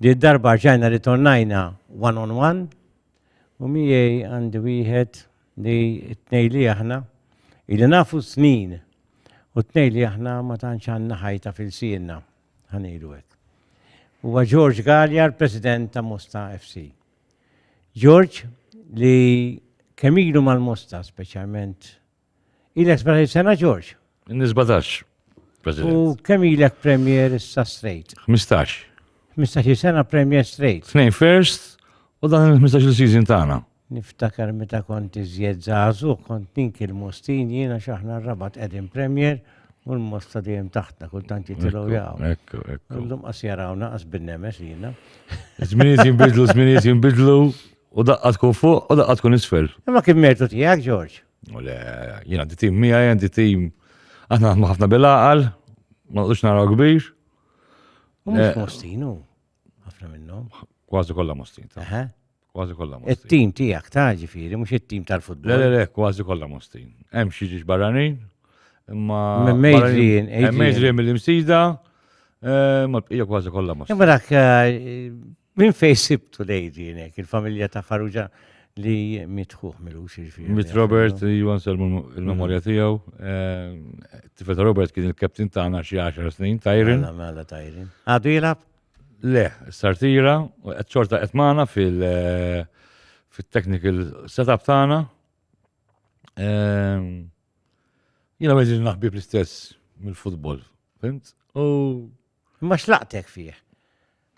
Di darba rġajna ritornajna one on one u miegħi għandi wieħed li t-tnejn li aħna ili nafu snin u t-tnejn li aħna ma tantx għandna ħajta f'ilsienna, ħa ngħidu hekk. Huwa George Galea l-President ta' Mosta FC. George li kemm ilu mal-Mosta speċjalment Ilek 17 sena George? Inni 17. President. U kemm ilek Premier issa straight? 15. 15 sena Premier straight. Tnejn first u dan il-15 season tagħna. Niftakar meta kont iżjed żagħżu, kont ninki l-mostin jiena x'aħna r-rabat qegħdin Premier u l-mosta dejjem taħtna kultant jitilgħu jaqgħu. Ekku, ekku. Illum qas jarawna qas bin-nemes jiena. Żminijiet jinbidlu, żminijiet jinbidlu. U daqqa tkun fuq u daqqa tkun isfel. Imma kien mertu tiegħek, Ġorġ. U le, jien għandi tim miegħi, għandi tim aħna naħdmu ħafna bil-għaqal, ma naqdux naraw kbir. U mhux mostinu, ħafna minnhom. Kważi kollha mostin. Kważi kollha mostin. It-tim tiegħek ta' ġifieri, mhux it-tim tal-futbol. Le, le, le, kważi kollha mostin. Hemm xi ġiex barranin, imma. Mejġrin, mejġrin mill-imsida, ma bqija kważi kollha mostin. Imma dak Min fej sibtu lejdi nek, il-familja ta' Farrugia li mitħuħ milux iġviri. Mit Robert, Juan Selmu il-memorja mhm. tijaw. Eh, Tifet Robert kien il-kaptin tagħna xi 10 snin, Tajrin. Mela, mela Tajrin. Għadu jilab? Le, sartira, qed xorta qed magħna fil- eh, technical setup tagħna. Eh, Jina meġi naħbib l-istess mill-futbol, fimt? U Imma xlaqtek fih.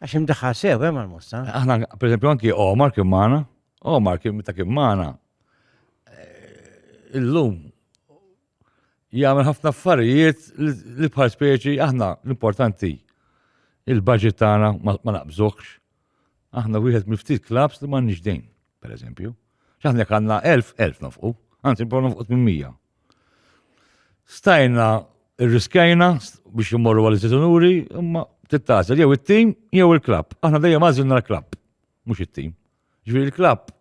Għax imdaħħal sew hemm eh, għal-mosta. Aħna, per esempio, anki Omar kien magħna, Omar kien meta kien magħna. Eh, illum jagħmel ħafna affarijiet li bħal speċi aħna l-importanti il-budget tagħna ma naqbżokx. Aħna wieħed mill-ftit klabs li m'għandniex dejn, per eżempju. X'aħna jekk għandna 1000, 1000 nofqu, anzi nbgħu nofqu 800. Stajna rriskajna biex immorru għal istitunuri, imma tittasa jew it-tim jew il-klabb. Aħna dejjem għażilna l-klabb, mhux it-tim. Ġifieri l-klabb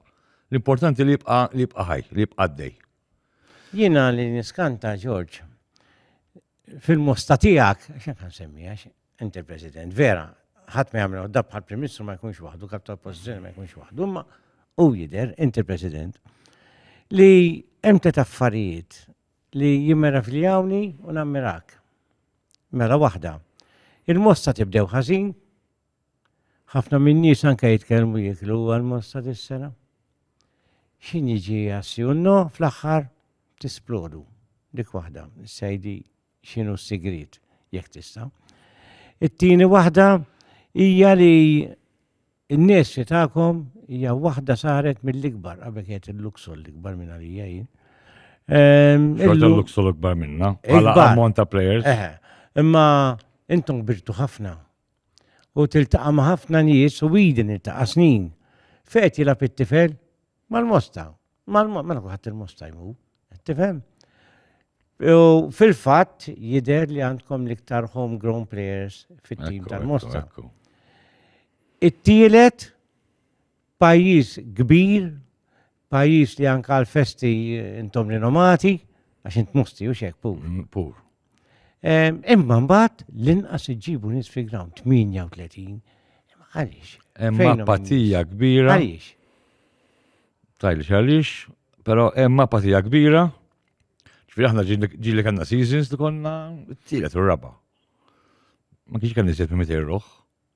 l-importanti li jibqa' li jibqa' ħaj, li jibqa' għaddej. Jiena li niskanta Ġorġ fil-mosta tiegħek, x'hekk nsemmija, Inti l-President, vera, ħadd ma jagħmel dab bħal Prim Ministru ma jkunx waħdu, kap ta' oppożizzjoni ma jkunx waħdu, imma u jidher, inti l-President, li hemm tliet affarijiet li jimmeravljawni u nammirak. Mela waħda, il-mosta tibdew ħażin, ħafna minn nies anke jitkellmu jiklu għal-mosta dis-sena. X'in jiġi għassi unno fl-aħħar tisplodu dik waħda, sejdi x'inhu s-sigriet, jekk tista'. It-tieni waħda hija li n-nies li tagħkom hija waħda saret mill-ikbar, qabel kienet il-Luxol l-ikbar minn għalija jien. Ehm, Xorta l-Luxol l-ikbar minna, għala ammont ta' players. Imma intom birtu ħafna. U tiltaqa ma' ħafna nies u bidin iltaqa' snin. Fejt jilab it-tifel mal-mosta. Mela kuħat il-mosta jmu, tifhem? U fil-fatt jider li għandkom l-iktar homegrown players fit-tim tal-Mosta. It-tielet pajjiż kbir, pajjiż li anka l-festi intom rinomati, għax int musti u xek pur. Mm, pur. Imma mbagħad l-inqas iġġibu nies fi ground 38. Għaliex? Hemm apatija kbira. Għaliex? Tajli għaliex, però hemm apatija kbira. Ġifieri aħna ġili kellna seasons li konna t-tielet u raba. Ma kienx kemm niżjed minn 200 ruħ.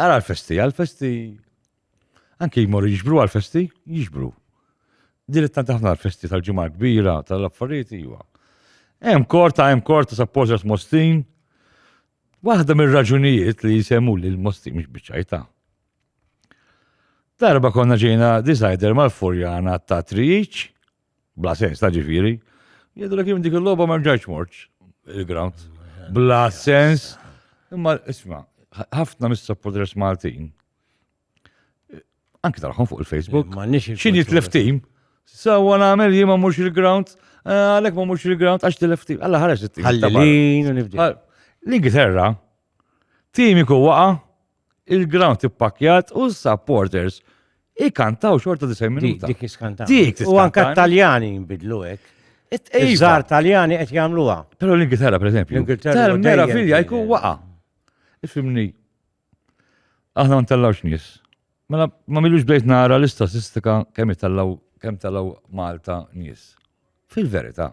Ara l-festi, għal-festi, anki jmorru jiġbru għal-festi, jiġbru. Dilettant ħafna għal-festi tal-ġimgħa kbira, tal-affarijiet iwa. Hemm korta, hemm korta supporters Mostin. Waħda mir-raġunijiet li jisemmu li l-Mostin mhux biċċajta. Darba konna ġejna decider mal-furjana ta' triċ, Bla sens ta' ġifieri. Jgħidu li kien dik il-logħba ma rġajtx mort il-ground. Bla sens. Imma isma' ħafna mis-supporters Maltin anki taraħħom fuq il-Facebook. Xin jitlef tim? Sawa nagħmel jien ma mhux il-ground, eh, għalhekk ma mhux il-ground għax tilef tim. Alla ħares it-tim. Ħallin u nibdi. L-Ingilterra, tim iku waqa' il-ground ippakkjat u s-supporters ikantaw xorta 90 minuta. Dik iskanta. Dik U anka tiskantani. t-Taljani jinbidlu hekk. It- iva. Iż-żar Taljani qed jagħmluha. Pero l-Ingilterra, per eżempju. L-Ingilterra Tal dejjem mera filja kienet. jkun waqa. Ifimni. Aħna ma ntellawx nies. Mela ma milux bdejt nara l-istatistika kemm itellaw kemm tellaw Malta nies. Fil-verità.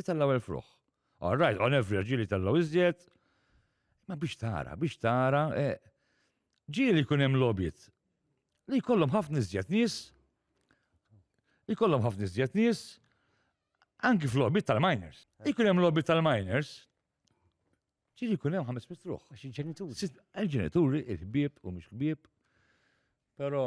Itellgħu il-fruħ. All right, on average ġieli tellgħu iżjed. Ma biex tara, biex tara, eh, ġieli jkun hemm lobit li jkollhom ħafna iżjed nies, li jkollhom ħafna iżjed nies, anki fl-lobit tal-miners. Jkun hemm lobit tal-miners, ġieli jkun hemm ħames mitruħ. Għax il-ġenituri. Il-ġenituri, il-ħbieb u mhux ħbieb, però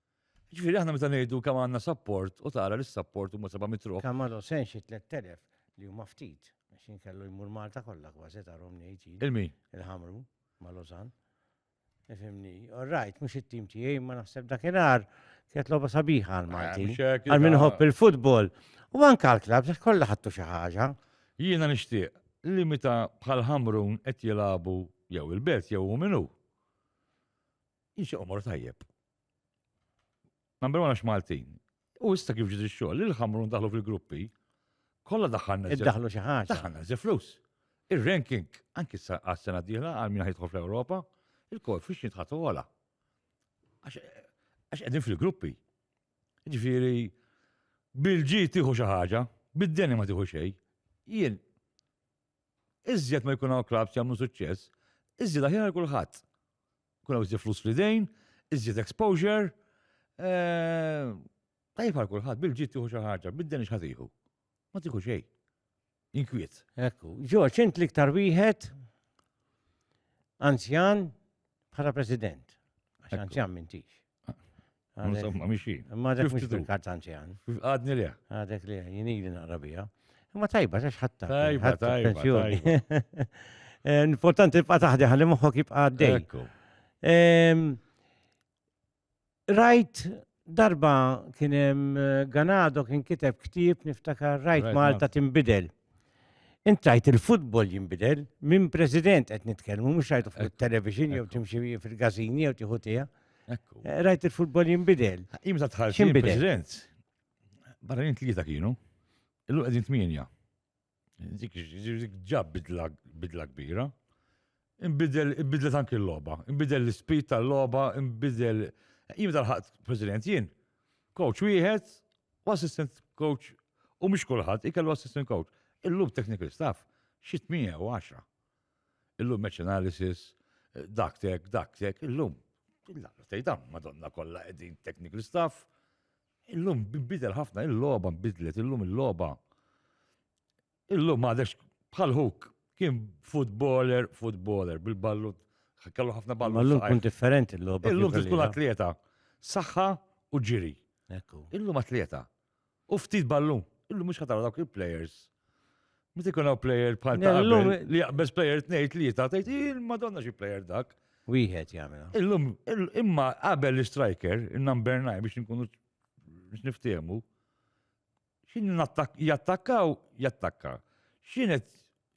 Ġifieri aħna meta ngħidu kemm għandna sapport u tara li s-sapport huma seba' mitruħ. Kemm għadhom se xi tlett elef li huma ftit għax inkellu jmur Malta kollha kważi tarhom ngħid jien. Il-min? Il-Ħamru ma' Lozan. Ifimni, all right, mhux it-tim tiegħi ma naħseb dakinhar kienet logħba sabiħa għal Malti. Għal min ħobb il-futbol u anke għal klab se kollha ħadtu xi ħaġa. Jiena nixtieq li meta bħal Ħamrun qed jilagħbu jew il-belt jew hu minnu. Jiġi omor tajjeb. Number one għax Maltin. U issa kif ġiet ix-xogħol, il-ħamrun daħlu fil-gruppi, kollha daħħalna. Iddaħlu xi ħaġa. Daħħalna żi flus. Ir-ranking, anki sa għas-sena d-dieħla għal min ħajtħol fl-Ewropa, il-koefficient ħatu għala. Għax qegħdin fil-gruppi. Ġifieri bil-ġi tieħu xi ħaġa, bid-deni ma tieħu xejn. Jien iżjed ma jkun hawn klabs jagħmlu suċċess, iżjed aħjar kulħadd. Kun hawn iżjed flus fl-idejn, iżjed exposure. Eh, tajjeb għal kulħadd bil-ġid tieħu xi ħaġa, bid-den x'ħatiħu. Ma tieħu xejn. Inkwiet. Ekku, ġoċ, int l-iktar wieħed anzjan bħala president. Għax anzjan mintix. Insomma, miexi. Ma dak mux bil-kazzanċi għan. Għadni li. Għadek li, jinili naqra bija. Ma tajba, xax ħatta. Tajba, tajba. Eh, importanti tibqa taħdi għalli moħħok jibqa għaddej. Ehm, rajt darba kienem eh, Ganado kien kiteb ktib niftakar rajt Malta timbidel. Intrajt il-futbol jinbidel, minn president qed nitkellmu, mhux rajtu fuq il-television jew timxi fil-gazini jew tieħu tiegħek. Eh, rajt il-futbol jinbidel. Imza tħarġ president. Barra jint li kienu, illu qegħdin tmienja. Dik ġab bidla kbira. Inbidel, inbidlet anki l-loba, inbidel l-ispit tal-loba, inbidel. Jien tal-ħadd president jien. Coach wieħed u assistant coach u mhux kulħadd ikellu assistant coach. Illum technical staff xi 8 Illum match analysis, dak tek, dak tek, illum. Tgħidam, madonna kollha qegħdin technical staff. Illum bidel ħafna, il-logħba nbidlet, illum il-logħba. Illum għadex bħal hook kien footballer, footballer, bil-ballu, kellu ħafna ballu. Illum kun differenti l-lob. Illum tkun atleta, saħħa u ġiri. Illum atleta. U ftit ballu, illum mux ħatara dawk il-players. Ma tikun għaw player bħal ta' illum li jaqbez player tnejt li jita' tgħid il-madonna xi player dak. Wieħed jagħmel. Illum imma qabel l-striker, il-number 9 biex nkunu biex niftehmu, X'inhu nattak jattakkaw jattakka. X'inhet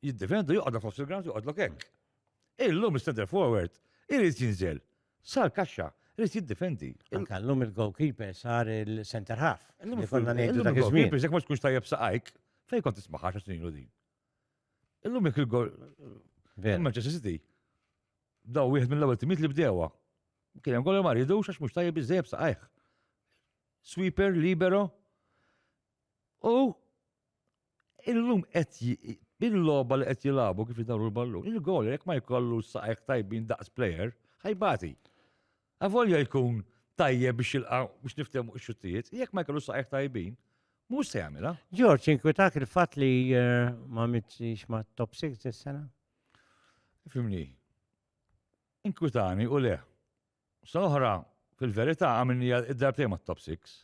jiddefendu joqgħodha fost il-ground joqgħodlok hekk. Illum is-center forward irid jinżel sar kaxxa Rrit jiddifendi. Anka l-lum il-goalkeeper sar il-center half. Illum konna ngħidu dak iż-żmien. Jekk ma tkunx tajjeb saqajk, fejn kont tismaħa xa snin din. Illum jekk il-gol Manchester City daw wieħed mill-ewwel timiet li bdewa. Kien hemm gol ma rridux għax mhux tajjeb iżejjeb saqajh. sweeper libero u illum qed bil-logħba li qed jilagħbu kif jidawru l-ballun, il-gol jekk ma jkollu saqajk tajbin daqs plejer, ħajbati. Avolja jkun tajjeb biex jilqa' biex niftehmu x-xuttijiet, jekk ma jkollu saqajk tajbin, mhux se jagħmilha. Ġorġ, inkwitak il-fatt li eh, ma mitx ma' top 6 is-sena? Fimni. Inkwitani u le. Sena oħra, fil-verità, għamilni id-darbtej ma' top 6.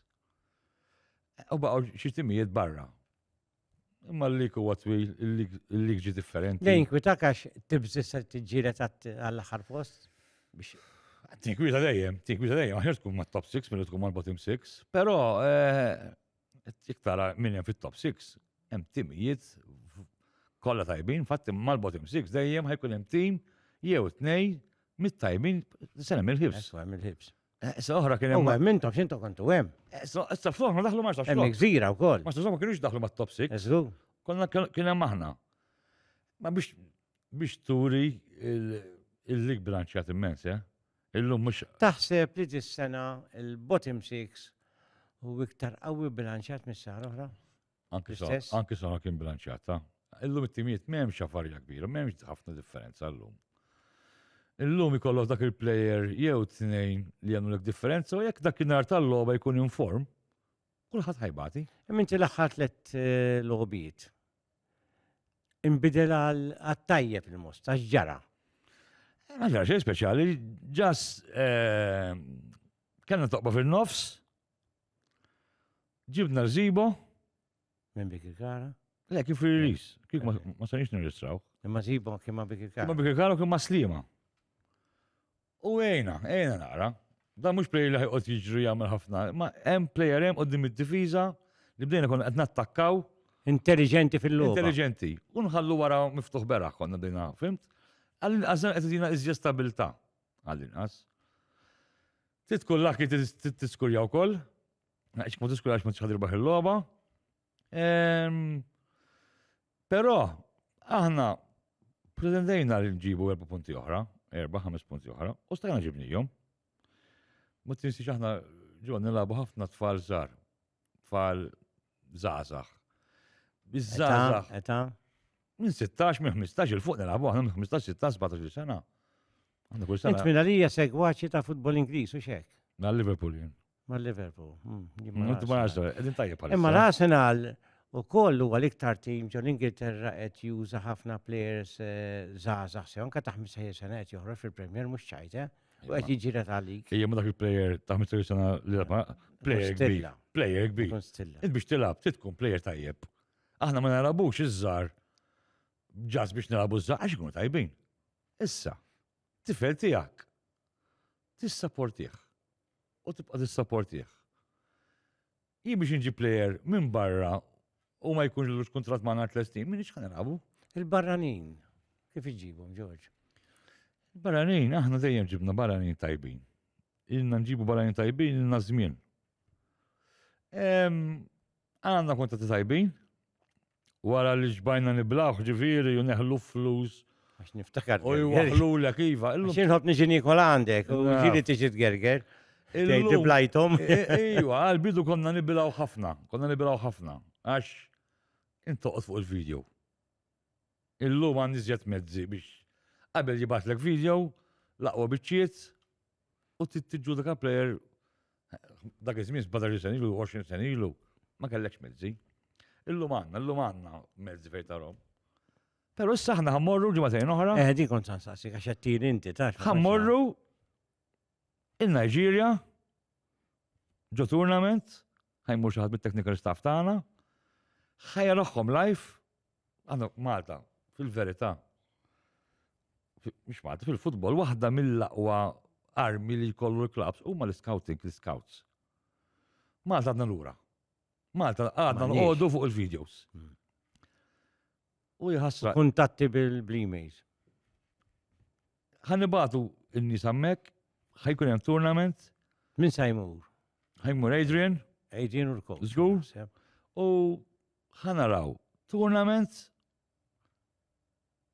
U baqaw xi timijiet barra. Imma l-lik huwa twil, l-lik ġi differenti. Lejn kwita għax tibżis se tiġġieled għall-aħħar post biex. Tinkwita dejjem, tinkwita dejjem, aħjar tkun ma' top 6 milli tkun mal-bottom 6. Però eh, Jek tara minn hemm fit-top 6, hemm timijiet kollha tajbin, fatt mal bottom 6 dejjem ħajkun hemm tim jew tnej mit-tajbin se hemm il-ħibs. Hemm il-ħibs. Eh, sa oħra kien hemm. Hemm intom x'intom kontu hemm. Eh, sa fl-oħra daħlu ma xax. Hemm gżira wkoll. Ma xax ma kienux daħlu mat-top 6. Eżlu. Konna kien hemm aħna. Ma biex biex turi il-lig bilanċjat immens, eh? Illum mhux. Taħseb li dis-sena l-bottom six u iktar qawwi bilanċjat mis-sena oħra? Anki sena kien bilanċjat, ta'. Illum it-timijiet m'hemmx xafarja kbira, m'hemmx ħafna differenza llum. Illum ikollok dak il-plejer jew tnejn li jagħmlu l differenza u jekk dak in-nar tal-logħba jkun inform, Kulħadd ħajbati. Imma inti l-aħħar tliet eh, logħbiet. Inbidel għat-tajjeb il-most, għax ġara. Ma ġara xejn speċjali, ġas eh, kellna toqba fin-nofs, ġibna rżibo. Minn bik il-kara? Le, kif il-ris, kif ma sanix nirristraw. Imma zibo kif ma bik il-kara. Kif ma bik il-kara, kif ma slima. U għejna, għejna naqra. Dan mhux play li ħajqod jiġri jagħmel ħafna, ma hemm player hemm qudiem id-difiża li bdejna konna qed nattakkaw. Intelligenti fil-logħba. Intelligenti. U nħallu wara miftuħ beraħ konna bdejna, fimt? Għall-inqas qed idina iżjed stabilità. Għall-inqas. Trid tkun laki tiskurja wkoll. Għax ma tiskurjax ma tixħad irbaħ il-logħba. Però aħna pretendejna li nġibu erba' punti oħra, erba' ħames punti oħra, u stajna ġibnijom. Ma tinsiex aħna ġo nilabu ħafna tfal żgħar, tfal żgħażagħ. Biż-żgħażagħ. Eta? Minn 16, minn 15 il fuq nilabu aħna minn 15, 16, 17 sena. Int minn għalija segwaċi ta' futbol Ingliż u xek. Na Liverpool jien. Ma' Liverpool. Imma l-Arsenal u koll huwa l-iktar tim ġo l-Ingilterra qed juża ħafna players zaza eh, se anka ta' 15 sena qed joħroġ fil-Premier mhux ċajte u qed jiġira ta' lik. Ejja ma dak il-player ta' 15 sena li ma player kbir. Player kbir. Int biex tilab, trid tkun player tajjeb. Aħna ma narabux iż-żar ġas biex narabu ż-żar għax ikunu tajbin. Issa, tifel tiegħek tista' portih u tibqa' tissapportih. Jien biex inġi plejer minn barra u ma jkunx l kontrat ma' nar tlestin, minn iċħan narabu. Il-barranin, kif iġibhom, Ġorġ? Il-barranin, aħna dejjem ġibna barranin tajbin. Ilna nġibu barranin tajbin, ilna żmien. Għanna kontratti tajbin, Wara li xbajna niblgħuh ġifieri u neħlu f-flus. Għax niftakar. U jwaħħlulek iva. Għax jien nħobb niġi niekol għandek u ġieli tiġi tgerger. Tgħid li blajthom. Iva, għall-bidu konna nibilgħu ħafna, konna nibilgħu ħafna. Għax int toqgħod fuq il-video. Illum għandi żjed mezzi biex qabel jibgħatlek video, l-aqwa biċċiet, U tiġġudika plejer dak iż-żmien 17 sen ilu, 20 sen ilu, ma kellekx mezzi. Illum għandna, illum għandna mezzi fejn tarhom. Però issa aħna ħammorru ġimgħatejn oħra. Eh, di kont sansaqsi għax qed tiri inti ta. Ħammorru in-Niġerja ġo tournament, ħajmur xi ħadd mit-technical staff tagħna, ħajja live Għanna Malta, fil-verità, mux Malta, fil-futbol, waħda mill-aqwa armi li jkollu l-klabs huma l-scouting, l-scouts. Malta għadna l-ura. Malta għadna l-għodu fuq il-videos. Hmm. U jħassra. Kuntatti bil-blimays. Għannibatu n-nis għammek, ħajkun hemm tournament. Min sajmur? Ħajmur Adrian. Adrian Urko. Zgur. U Ħa naraw tournaments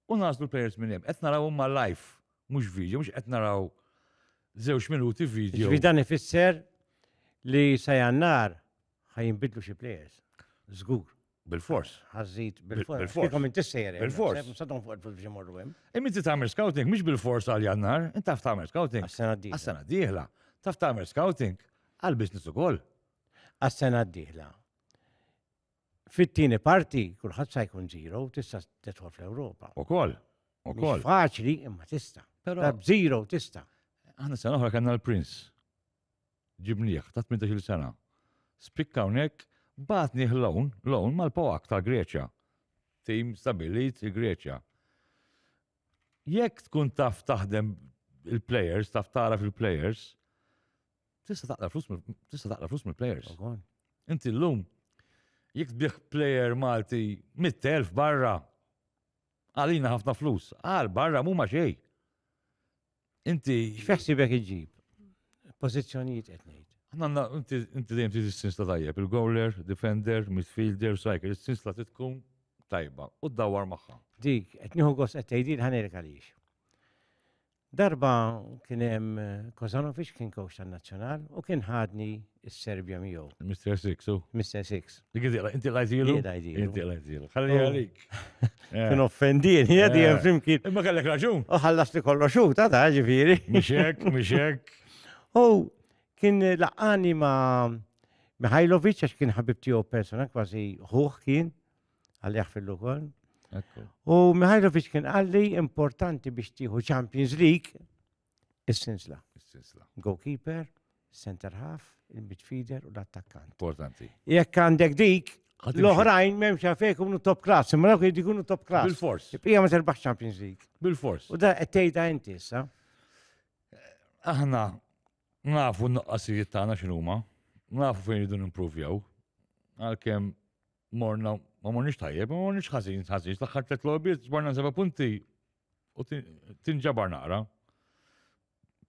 u nagħżlu l-players minn hemm. Qed naraw huma live, mhux video, mhux qed naraw żewġ minuti video. Ġifieri dan ifisser li sa jannar ħa jinbidlu xi players. Żgur. Bil-fors. Ħażid bil-fors. Bil-fors. Kom inti sejjer. Bil-fors. Sadhom fuq il-fors biex imorru hemm. Imma inti tagħmel scouting mhux bil-fors għal jannar, inti taf tagħmel scouting. Għas-sena d-dieħla. Għas-sena d-dieħla. Taf tagħmel scouting għal business ukoll. Għas-sena d-dieħla. Fit-tieni parti, kulħadd sa jkun zero, tista' tidħol fl-Ewropa. Ukoll, ukoll. Faċli imma tista'. Però zero tista'. Aħna sena oħra kellna l-Prince. Ġibnieh ta' 18 sena. Spikka hawnhekk batni ħlown, lown mal-Poak ta' Greċja. Tim stabilit il-Greċja. Jekk tkun taf taħdem il-players, taf tara fil-players, Tista' taqla flus tista' taqla flus mill-players. Inti llum jekk tbieħ player Malti 100,000 barra għalina ħafna flus, għal barra mhuma xej. Inti. X'feħsibek iġib? Pożizzjonijiet qed ngħid. Għanna, inti dejjem tiżi s-sins ta' tajjeb, il-goaler, defender, midfielder, striker, s-sins ta' titkun tajba u d-dawar magħha. Dik, qed nieħu gost qed tgħidil ħanejlek għaliex. Darba kien hemm Kozanovic kien kowx tan-Nazzjonal u kien ħadni s-Serbja miegħu. Mr. Six, u? Mr. Six. Dik iżjela, inti l-għajżilu? Jien għajżilu. Inti l-għajżilu. Ħalli oh. għalik. Eh. Kien offendin, jgħadi eh. hemm flimkien. Imma kellek raġun. U ħallas li kollu xu, ta' ta' ġifieri. Mixek, mixek. U kien laqani ma' Mihajlovic għax kien ħabib tiegħu persona kważi ħuħ kien. għal jaħfillu ukoll. U Mihajlovic kien għalli importanti biex tieħu Champions League is-sinsla. Is-sinsla. Goalkeeper, center half, il-midfielder u l-attakkant. Importanti. Jekk għandek dik, l-oħrajn memx għafek unu top class, imma dawk jiddi kunu top class. Bil-fors. Ija ma terbaħ Champions League. Bil-fors. U da għettejda inti issa. Aħna nafu n-nuqqasijiet tagħna x'inhuma, nafu fejn jridu nimprovjaw, għalkemm Morna, ma morniex tajjeb, ma morniex ħażin, ħażin, l-aħħar tliet logħbiet ġbarna seba' punti u tinġabar naqra.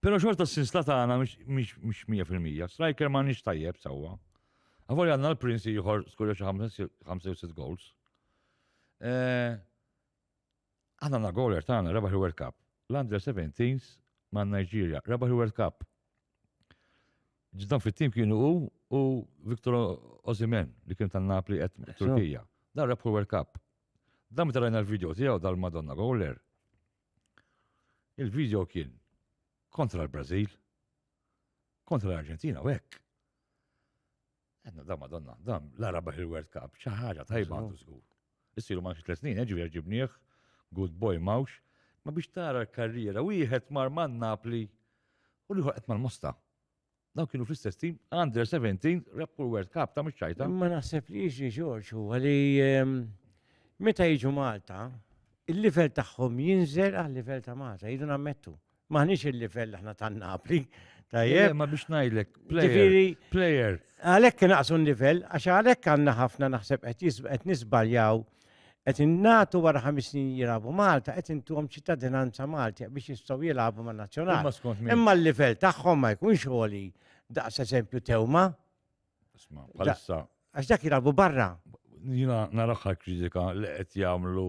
Pero xorta s-sinsla tagħna mhix 100%. Striker ma nix tajjeb sewwa. Għavol għandna l-Prince ieħor skorja xi 5 goals. Eh, Aħna na goler tagħna rebaħ il-World Cup. L-Under 17s ma' Nigeria rebaħ il-World Cup. Ġdan fit-tim kienu u u Victor Ozimen li kien tan Napli qed Turkija. Dan rebħu World Cup. Dan meta rajna l-video tiegħu dal-Madonna Goler. Il-video kien kontra l-Brażil, kontra l-Arġentina u hekk. Għanna da madonna, da la rabaħ il-World Cup, ċaħġa tajba għandu zgur. Issiru ma' tlet snin, eġu ġibniħ, good boy mawx, ma biex tara l-karriera, wieħed mar man Napli u li ħolqet mal-Mosta. Daw kienu fl-istess tim, under 17, rebħu l-World Cup ta' mxajta. Ma naħseb li jiġi Ġorġ u għali ehm, meta jiġu Malta, il-livell tagħhom jinżel għal livell ta' Malta, jidu nammettu. Maħniex il-livell aħna ta' Napli. Tajjeb. Ma biex ngħidlek, player. Għalhekk naqsu n-livell, għax għalhekk għandna ħafna naħseb qed nisbaljaw qed innatu wara ħames snin jilagħbu Malta, qed intuhom ċittadinanza Malti biex jistgħu jilagħbu man nazzjonali. Imma l-livell tagħhom ma jkunx għoli daqs eżempju tewma. Għax dak jilagħbu barra. Jina naraħħa kritika li qed jagħmlu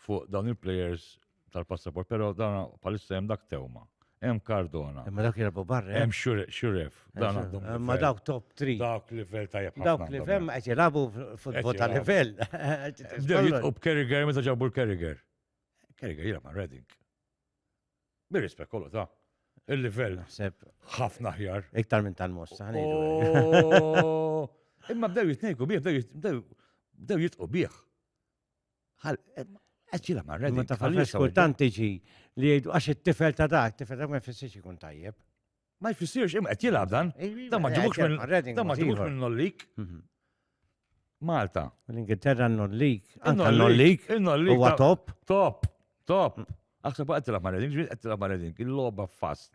fuq dawn il-plejers tal-passaport, pero dan palissa hemm dak Tewma, hemm Cardona. Imma dak jirbu barra. Hemm Xuref, dan għandhom. Imma dawk top 3. Dawk livell tajjeb ħafna. Dawk livell qed jilagħbu futbol ta' livell. Bdew jitqu b'Kerriger meta ġabu l-Kerriger. Kerriger jilgħab ma' Reading. Bir-rispett kollu ta' il-livell. Naħseb. Ħafna ħjar. Iktar minn tal-mossa. Oh! Imma bdew jitnejku bih, bdew jitqu bih. Qed jilgħab ma' Reading. Ma tafx kultant tiġi li jgħidu għax it-tifel ta' dak, tifel ta' ma jfissirx ikun tajjeb. Ma jfissirx, imma qed jilgħab dan. Dan ma ġibux minn dan ma ġibux minn nollik. Mhm. Malta. L-Ingilterra nollik. Anka nollik. Nollik. Huwa top. Top. Top. Mm. Aħseb qed tilgħab ma' Reading, ġbir qed tilgħab ma' Reading, il-logħba fast.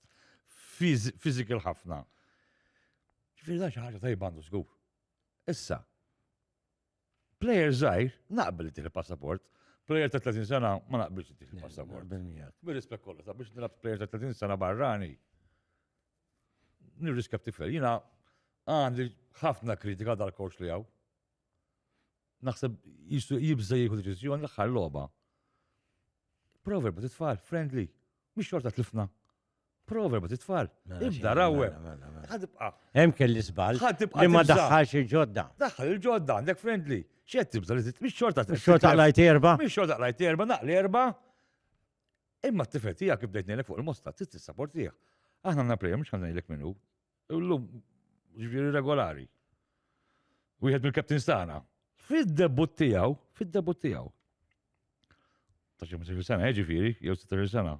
Physical ħafna. Ġifieri da xi ħaġa tajba għandu żgur. Issa, Player żgħir naqbel ittieħ il-passaport, player ta' 30 sena ma naqbilx ittieħ il-passaport. Bir-rispett kollu, ta' biex nilab player ta' 30 sena barrani. Nirriskja b'tifel, jiena għandi ħafna kritika dal-coach li hawn. Naħseb jibża jieħu deċiżjoni l-aħħar logħba. Proverb titfal, friendly, mhix xorta tlifna. Proverb titfal. Mela, Ibda rawe. mela, mela, mela. Ħadibqa. Hemm kelli żball Ħadibqa li ma tibża. daħħalx il-ġodda. Daħħal il-ġodda għandek friendly. Xed tibża li titmix xorta. Xorta lajt erba. Mix xorta lajt erba, naqli erba. Imma t-tifel tija kif bdejt nejlek fuq il-mosta, tista saportija. Aħna għanna prejem, xan nejlek minnu. Illum, ġviri regolari. Wieħed mill-kaptin stana. Fid-debut tijaw, fid-debut tijaw. Ta' xemmu sena, eh, ġviri, jew 16 sena.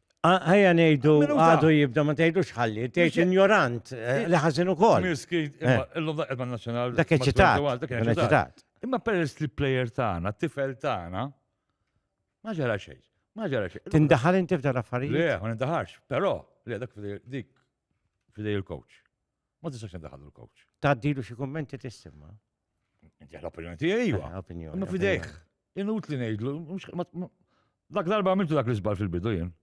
Għajja nejdu għadu jibda ma tgħidux ħalli, tgħid ignorant eh, li ħażin ukoll. Mirski, eh. illum daqqa ma' nazzjonal. Dak eċitat. Imma peress li plejer tagħna, tifel tagħna, ma ġara xejn. Ma ġara xejn. Tindaħal inti f'dar affarijiet? Le, ma nindaħarx, però, le dak dik fidej il-coach. Ma tistax tindaħal l-coach. Taddilu xi kummenti tissib ma. Inti l-opinjoni tiegħi iva. Eh, opinjoni. Innu fidejh. Inut li ngħidlu. Dak darba għamiltu dak l-iżbal fil-bidu jien.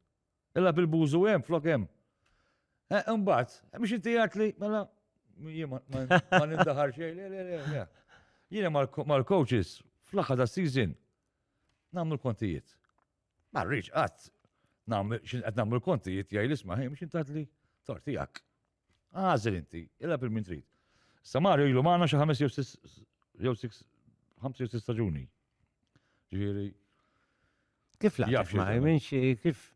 Illa bil-bużu hemm flok hemm. Eh, imbagħad, eh, biex inti jgħid li mela jien ma nindaħar xejn. Jiena mal-coaches fl-aħħar ta' season nagħmlu l-kontijiet. Ma rridx qatt nagħmlu l-kontijiet jgħid l-isma' ħin biex intatli tortijak. Għażel inti, ilgħab il-min trid. Sa Mario ilu magħna xi ħames jew sis jew six ħamsa jew sis staġuni. Ġifieri. Kif laqgħet ma' minn xi kif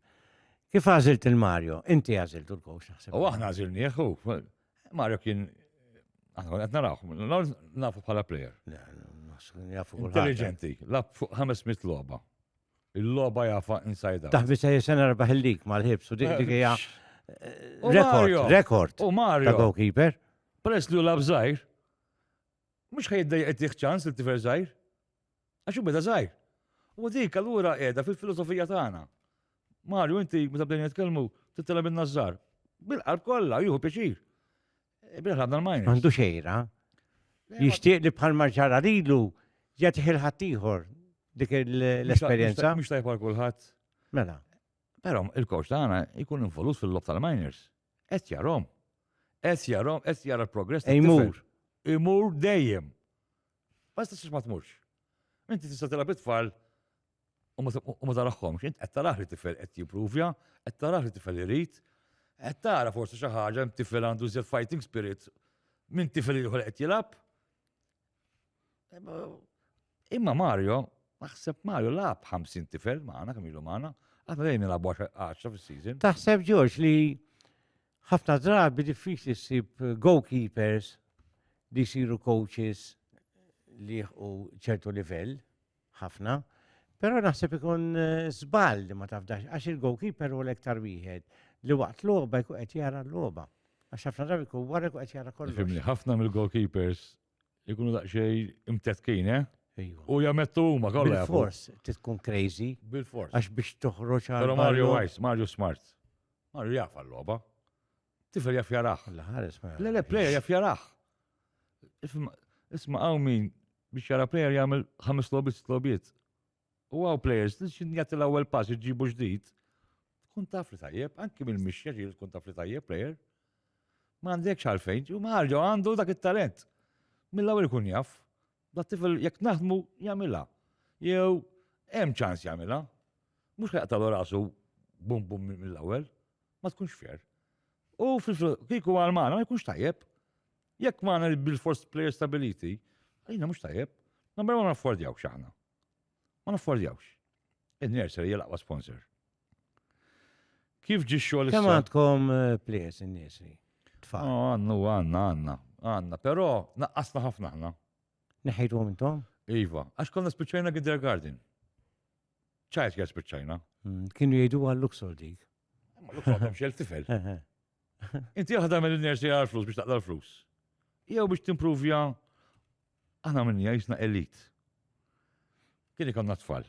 kif għażilt il-Mario? Inti għażilt u l-kowx naħseb. U aħna għażilnieh u Mario kien aħna qed narawh, nafu bħala player. Intelligenti, lab fuq ħames mit logħba. Il-logħba jafa inside out. Taħbi se jisen erbaħ il-lig mal-ħibs u dik dik hija U rekord, Mario. rekord U ta' Mario. goalkeeper. Peress li u lab zaħir, mux ħajdda jgħettiħ ċans li tifer zaħir. Għaxu beda zaħir. U dik allura edha fil-filosofija tagħna. Mario, inti meta bdejna nitkellmu, tittela minna żżar. Bil-qalb kollha, juhu pjaċir. Għandu xejra. Jixtieq li bħal marġara lilu jagħtih il-ħadd ieħor dik l-esperjenza. Mhux tajb għal kulħadd. Mela. Però il-coach tagħna jkun involut fil-lob tal-miners. Qed jarhom. Qed jarhom, qed jara l-progress. Imur. Imur dejjem. Basta s ma tmurx. Inti tista' tilgħab it-tfal U ma taraħħomx, int qed taraħ li tifel qed jippruvja, qed taraħ li tifel irid, qed tara forsi xi ħaġa hemm tifel għandu żjed fighting spirit minn tifel ieħor qed jilgħab. Imma Mario, naħseb Mario lab 50 tifel magħna kemm ilu magħna, għadna dejjem nilagħbu 10 fis-season. Taħseb George li ħafna drabi diffiċli ssib goalkeepers li jsiru coaches li jieħu ċertu livell. ħafna, però naħseb ikun żball li ma tafdax għax il-goalkeeper hu l-iktar wieħed li waqt logħba jkun qed jara l-logħba. Għax ħafna drabi jkun wara jkun qed jara kollox. Fimni, ħafna mill-goalkeepers ikunu daqsxejn imtetkin, eh? U jamettu huma kollha. Bil-fors, titkun crazy. Bil-fors. Għax biex toħroġ għal. Però Mario Wise, Mario Smart. Mario jafa l-logħba. Tifel jaf jaraħ. Le, le, plejer jaf jaraħ. Isma għaw min biex jara plejer jgħamil ħames lobit, lobit. U għaw plejers, xin jgħati l-ewel pass iġibu ġdid. Tkun taf li tajjeb, anki minn mixja ġil tkun taf li tajjeb plejer. Ma għandekx għalfejn, u maħarġu għandu dak il-talent. Mill-ewel kun jaf, da tifel jek naħdmu jgħamila. Jew, hemm ċans jgħamila. Mux ħajqtalu rasu bum bum mill-ewel. Ma tkunx fair. U kieku għal Malta ma jkunx tajjeb. Jekk ma għandna bil-force player stability, għalina mhux tajjeb. Number ma naffordjawx aħna. Ma naffordjawx. Il-nursery hija l-aqwa sponsor. Kif ġi xogħol Kemm għandkom eh, players in-nursery? Tfal. Oh, għannu, għanna, għanna, għanna, però naqqasna ħafna ħna. Neħejtu intom? Iva, għax konna spiċċajna Garden. ċajt kien spiċċajna. Mm, kienu jgħidu għal Luxor dik. Ma Luxor għandhom xel tifel. Inti għahda mill nersi għal flus biex taqla l-flus. Jew biex timprovja aħna minni jisna elit. Kien ikonna tfal.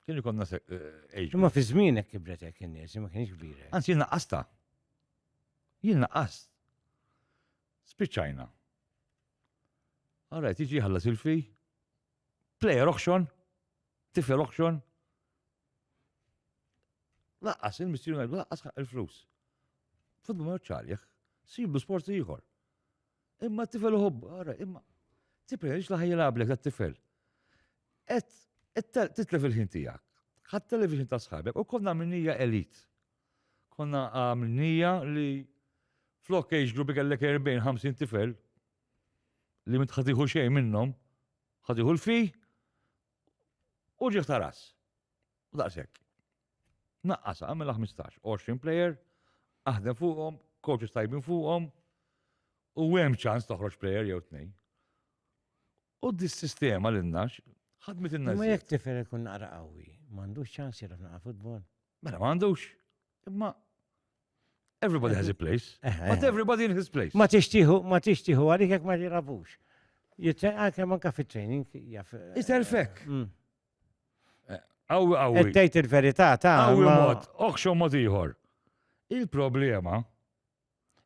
Kien ikonna ejġ. Eh, ma fi żmienek kibret hekk in-nies, ma kienx kbira. Anzi jien naqqasta. Jien naqqast. Spiċċajna. Għarajt, iġi ħallas il-fej, Player auction, tifel auction. Laqqas, il-mistri ngħidu laqqas ħaq il-flus. Futbu ma ċarjeħ, siblu sport ieħor. Imma tifel uħobb, ara, imma tipprejx li ħajjilablek dat tifel. Et, et titlef il-ħin tiegħek. Ħadd television ta' sħabek u konna minnija elit. Konna minnija li flok age group kellek 40-50 tifel, li minn tħatiħu xejn minnhom, ħatiħu l-fi u ġieħ ta' ras. U daqshekk. Naqqasa, għamela 15, 20 player, aħdem fuqhom, coaches tajbin fuqhom, u hemm ċans toħroġ player jew tnej. U dis-sistema l nax ħadmet in-nax. Ma jekk tifel ikun naqra qawwi, m'għandux ċans jiraf naqa' futbol. Mela m'għandux. Imma everybody has a place, eh, eh. but everybody in his place. Ma tixtiħu, ma tixtiħu għalik jekk ma jirabux. Jitzen għalkemm ah, anka fit-training jaf. Eh, Itelfek. Mm. Għawi, għawi. Ettejt il-verità ta' għawi mod, oħxu mod iħor. Il-problema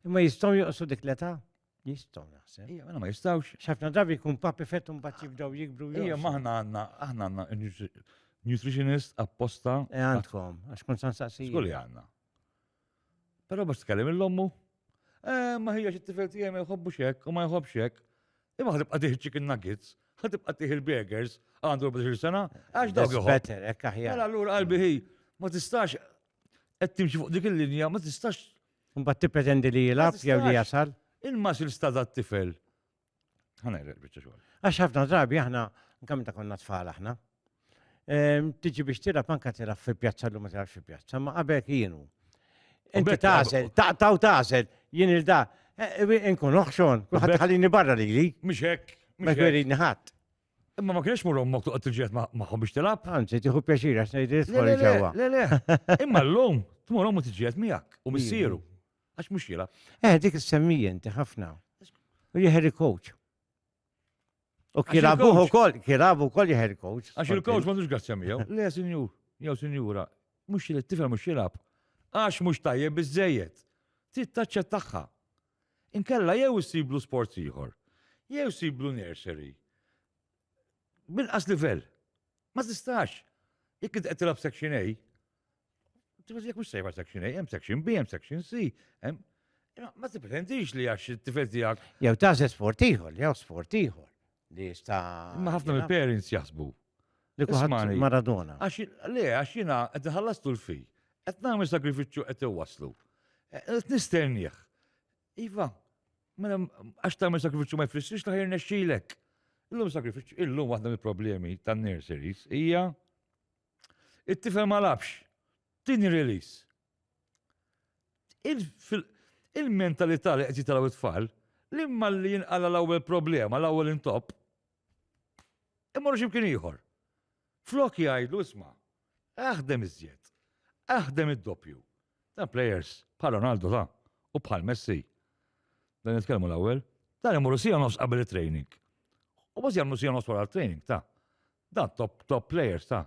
Imma jistgħu joqsu dik l-età? Jistgħu naħseb. Ija, mela ma jistgħux. Xafna drabi jkun papi fett un bat jibdew jikbru. Ija, maħna għanna, aħna għanna nutritionist apposta. E għandkom, għax kun san saqsi. Skulli għanna. Pero biex tkellem il-lommu, eh, ma hija xi tifel tiegħi ma jħobbu xek u ma jħobb xek. Imma ħadib qadih chicken nuggets, ħadib qadih il-burgers għandu 14 sena, għax dawk jħobb. Better, ekk aħjar. Mela allura qalbi hi, ma tistax qed timxi fuq dik il-linja ma tistax. Mbagħad tippretendi li jilgħab jew li jasal. Il-masil stada t-tifel. Ħana jrek biċċa xogħol. Għax ħafna drabi aħna kemm ta' konna tfal aħna. Ehm, tiġi biex tilgħab anke tilgħab fi pjazza l ma tilgħabx fi pjazza, ma qabel kienu. Inti tażel, taqtaw tażel, jien il-da, eh, eh, inkun oħxon, kuħat ħallini barra li li. Mux hekk. Mux hekk. ħadd. Imma ma kienx mur ommok toqgħod tiġġiet magħhom biex tilgħab. Anzi, tieħu pjaċir għax ngħid isfori ġewwa. Le, le. Imma llum tmur ommu tiġġiet miegħek u missieru. Għax mhux jilgħab. Eh, dik is-semmija inti ħafna. U jeħer coach. U kilabuħ ukoll, kilabu wkoll jeħer coach. Għax il-coach ma tux gazzja miegħu. Le, sinjur, jew sinjura, mhux jilgħab tifel mhux jilgħab. Għax mhux tajjeb biżejjed. Trid taċċettaħħa. Inkella jew issiblu sports ieħor, jew issiblu nursery b'inqas livell. Ma tistax. Jekk int qed tilgħab section A, jekk mhux sejba section A, hemm section B, hemm section C, hemm Ma tipprendix li għax it-tifel tiegħek. Jew tażel sport ieħor, jew sport ieħor. li jista. Imma ħafna mill parents jaħsbu. Li kuħat Maradona. Għax le, għax jina qed ħallastu l-fej. Qed nagħmel sagrifiċċju qed iwaslu. Eh, qed nistennieh. Iva, mela għax tagħmel sagrifiċċju ma jfissirx li ħajr nexxilek. Illum sagrifiċċju, illum waħda mill-problemi tan-nurseries hija It-tifel ma labx. Tini release. Il-mentalità li qed jitalaw it-tfal, l-imma li jinqala l-ewwel problema, l-ewwel intop, imorru x'imkien ieħor. Flok jgħidlu isma', aħdem iżjed, aħdem id-doppju. Dan players bħal Ronaldo ta' u bħal Messi. Dan nitkellmu l-ewwel, dan imorru sija nofs qabel it-training. U bas jagħmlu sija nofs wara t-training ta' Dan top top players ta'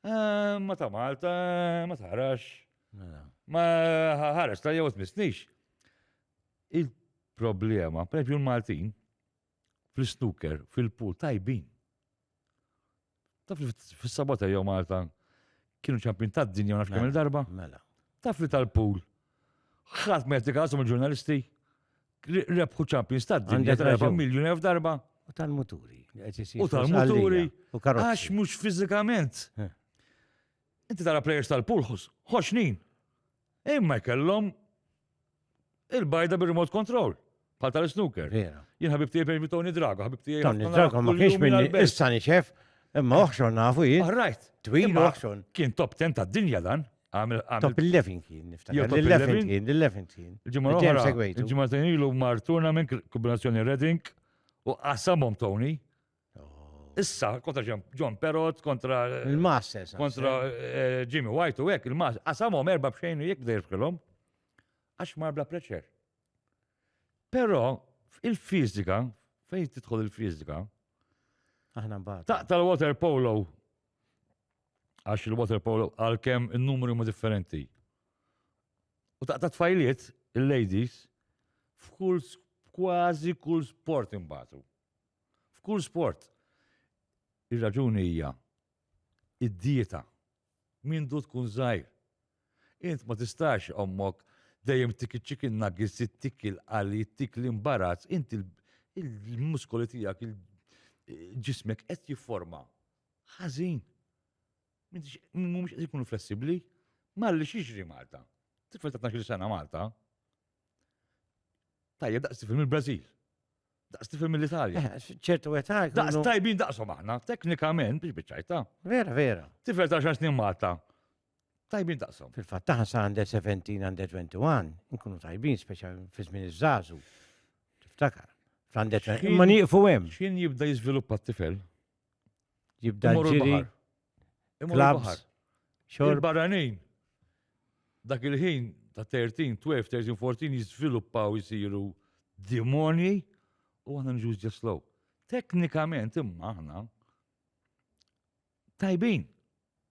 eh, ma ta' Malta, eh, ma tarax. Mela. Ma ħarex ta' jew tmissnix. Il-problema, per l-Maltin, fl-snooker, fil-pool, tajbin. Taf li fil-sabota jew Malta kienu ċampin ta' dinja nafx kemm mela, darba Mela. Taf li tal-pool. Ħadd ma jattikasum il-ġurnalisti. Rebħu Champions ta' dinja darba, miljun elf darba. U tal-muturi. U tal-muturi. U karozzi. Għax mux fizikament. Eh. Inti tara players tal-pulħus, ħoxnin. Imma jkellhom il-bajda bil-remote control. Bħal tal-snooker. Jien ħabib tiegħi per Tony Drago, ħabib tiegħi. Tony Drago ma kienx minni issa niċef, imma oħxon nafu jien. Right. Twil oħxon. Kien top 10 tad-dinja dan. Għamil għamil. Top 11 kien niftakar. Jew top 11 11? kien, l-11 kien. Il-ġimgħa Ġem l-oħra, segwejtu. il-ġimgħa ta' ilu mar tournament kombinazzjoni Reading u qasamhom Tony. Oh. Issa kontra Ġem- John Perot, kontra Il-Masters. kontra eh, Jimmy White u hekk il-mas qasamhom erba' b'xejn u jekk bdejr f'kilhom għax mar bla preċer. Però il-fiżika, fejn tidħol il-fiżika, Aħna mbagħad. taqta l-water polo Għax il-water polo għalkemm in-numri huma differenti. U taqta' tfajliet il-ladies f'kull kważi kull sport imbagħtu. F'kull sport. Ir-raġuni hija id-dieta. Mindu tkun żgħir. Int ma tistax ommok dejjem tik il-chicken nuggets, tik il-qali, tik l-imbarazz, int il-muskoli tijak, il-ġismek qed jifforma. Ħazin. Mumiex qed jkunu flessibli. Malli xiexri Malta. Tifel ta' 12 sena Malta. Tajja daqs tifel mill-Brazil. Daqs tifel mill-Italja. Eh, ċertu għetà. Daqs tajbin daqsom aħna, teknikament biex bieċajta. Vera, vera. Tifel ta' xar snin Malta. Tajbin daqshom. Fil-fatt taħna sa under 17, under 21, nkunu tajbin speċa fi żmien iż-żażu. Tiftakar. Fl-under 20. Ma nieqfu hemm. X'kien jibda jiżviluppa t-tifel? Jibda ġiri. Klabs. Xorb. Barranin. Dak il-ħin ta' 13, 12, 13, 14 jiżviluppaw jisiru dimoni u għana nġuż ġeslow. Teknikament imma aħna tajbin.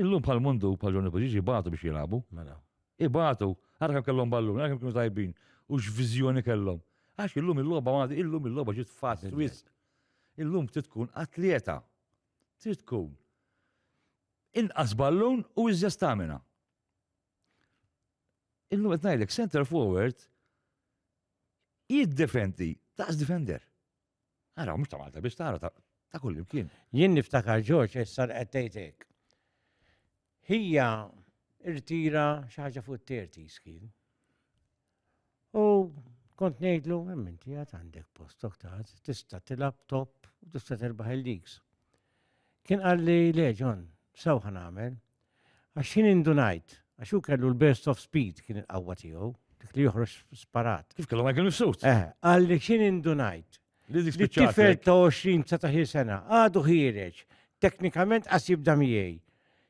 Illum bħal mundu bħal Johnny Poġġieġ ibatu biex jilagħbu. Mela. Ibatu, ara kemm kellhom ballun, ara kemm kienu tajbin u x'viżjoni kellhom. Għax illum il-logħba ma illum il-logħba ġiet fatt wisq. Illum trid tkun atljeta. Trid tkun inqas ballun u iżjed stamina. Illum qed ngħidlek center forward jiddefendi daqs defender. Ara, mhux ta' Malta biex tara ta' kull imkien. Jien niftakar Ġorġ issa li qed tgħidek. Hija irtira xi ħaġa fuq terti skin. U kont ngħidlu, hemm inti għad għandek post oktat, tista' tilab top u tista' terbaħ il-leaks. Kien qalli le Ġon, sew ħanamel, Għax jien indunajt, għax hu kellu l-burst of speed kien il-qawwa tiegħu, dik li joħroġ sparat. Kif kellu Michael Mifsud? Eh, qal li x'in indunajt. Li dik spiċċat. Tifel ta' 20 sa taħir sena, għadu ħiereġ, teknikament qas jibda miegħi.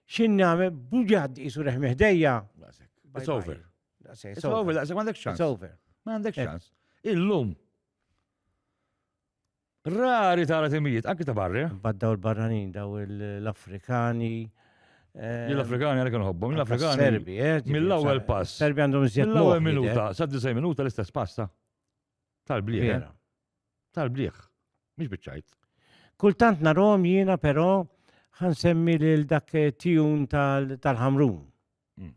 X'in nagħmel buġad isu reħmi ħdejja. It's over. It's over, daqshekk m'għandek xans. It's over. M'għandek xans. Illum Rari tara timijiet, anki ta' barra. Bad daw il-barranin, daw l-Afrikani. Eh, l-Afrikani għalek nħobbhom, l-Afrikani. Serbi, eh, Mill-ewwel pass. Serbi għandhom żjed. L-ewwel minuta, sa' disaj minuta l-istess pasta. Tal-bliħ. Eh? Tal-bliħ. Mhix biċċajt. Kultant narom jiena però ħansemmi lil dak tijun tal-ħamrun. Mm.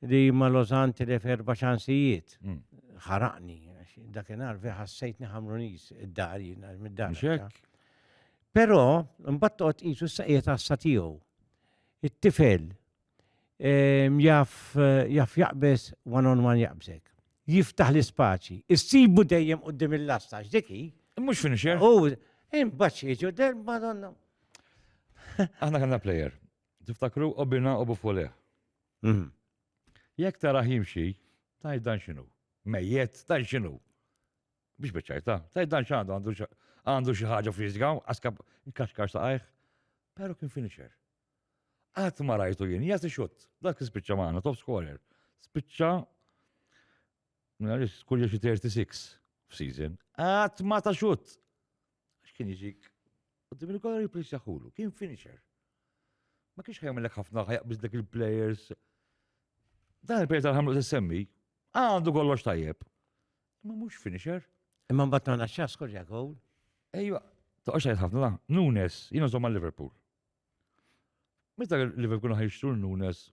Li ma lożan tilef erba' ċansijiet. Mm. Ħaraqni, dakinhar vi ħassejtni ħamruniż id-dar jien mid-dar. Però mbagħad toqgħod qisu s-saqjiet għassa tiegħu. It-tifel ehm, jaf jaf jaqbeż one on one jaqbżek. Jiftaħ l-ispaċi. Issibu dejjem qudiem il-lasta x'diki. Mhux finisher. U imbagħad jiġu del madonna. Aħna kellna plejer Tiftakru Obina u Bufoleh? Mhm. Jekk tarah jimxi, tajt dan x'inhu? Mejjet, tajt x'inhu? Biex biċċajta, tajt dan x'għandu għandu xi- għandu xi ħaġa friżga, għaskab inkaxkar saqajh. Però kien finisher. Qatt ma rajtu jien jagħti xutt. Dak li spiċċa magħna, top scorer. Spiċċa Mela li skurja xi 36 f'season. Qatt ma ta' xutt. Għax kien jiġik qudiem il-gola replace jaħulu, kien finisher. Ma kienx ħajmilek ħafna ħajqbis dak il-players. Dan il-player tal-ħamlu semmi, għandu kollox tajjeb. Ma mhux finisher. Imma mbagħad tagħna x'għas korja gowl. Ejwa, toqgħodx għajt ħafna, Nunes, jiena żomma Liverpool. Meta Liverpool ħajxtur Nunes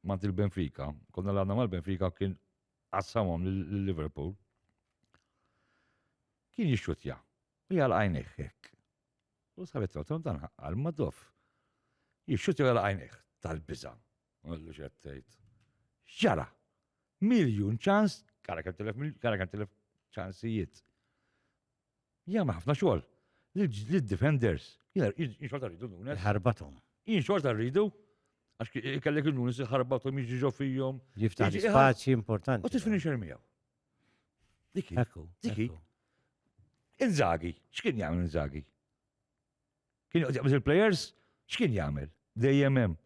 mant il-Benfica, konna l-għanna mal-Benfica kien għassamom l-Liverpool. Kien jixxutja u jagħlaq għajnejh hekk. U sabet rotom dan ħaqqal ma dof. Jixxutja u jagħlaq għajnejh tal-biża. Għallu xed tgħid. X'ġara? Miljun ċans, kara kemm tilef kara kemm tilef ċansijiet. Jagħmel ħafna xogħol. Lid-defenders. Jien xorta rridu nunes. Ħarbatom. Jien xorta rridu għax kellek il-nunes ħarbatom jiġi ġo fihom. Jiftaħ spazji importanti. U tifini xermijaw. Diki. Ekku. Diki. Inzagi, x'kien jagħmel Inzagi? Kien joqgħod jaqbeż il-players, x'kien jagħmel? Dejjem hemm.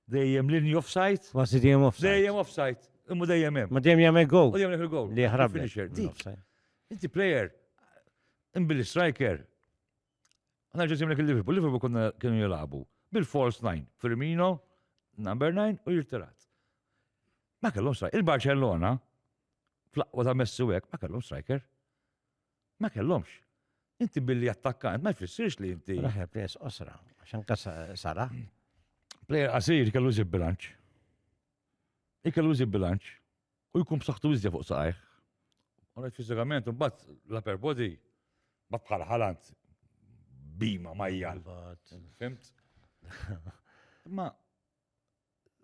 Dejjem linji offside. Ma si dejjem offside. Dejjem offside. Imma dejjem hemm. Ma dejjem jagħmel goal. U jagħmel goal. Li jaħrab. Inti player, imbili striker, Għana ġesim l Liverpool, Liverpool konna kienu jilabu bil-false 9, Firmino, number 9 u jirtirat. Ma kellhom strajk. Il-Barcellona, fl-aqwa ta' Messi wek, ma kellhom striker. Ma kellhomx. Inti billi attakkant, ma jfissirx li inti. Raħer pres osra, għaxan kas sara. Player qasir kellu zib bilanċ. Ikellu zib bilanċ. u jkun b'saħħtu iżja fuq saqajh. Għonet fiżikament, mbagħad l-upper body ma bħal ħalant bima majjal. Fimt? Ma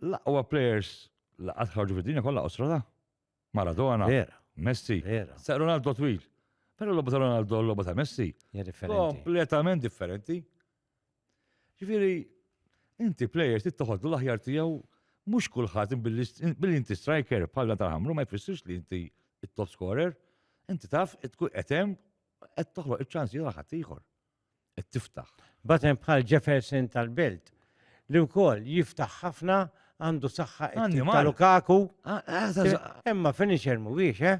l-aqwa players li qatt ħarġu fid-dinja kollha qosra ta' Maradona, Messi, sa' Ronaldo twil. Però l-logħba ta' Ronaldo l-logħba ta' Messi. Kompletament differenti. Ġifieri, inti plejer trid toħodlu l-aħjar tiegħu mhux kulħadd billi inti striker bħal dan tal-ħamru ma jfissirx li inti it-top scorer, inti taf tkun qed hemm qed toħloq iċ-ċansi għal ħadd ieħor. Qed tiftaħ. Batem bħal Jefferson tal-Belt li wkoll jiftaħ ħafna għandu saħħa ta' Lukaku. Imma finisher mhuwiex, eh?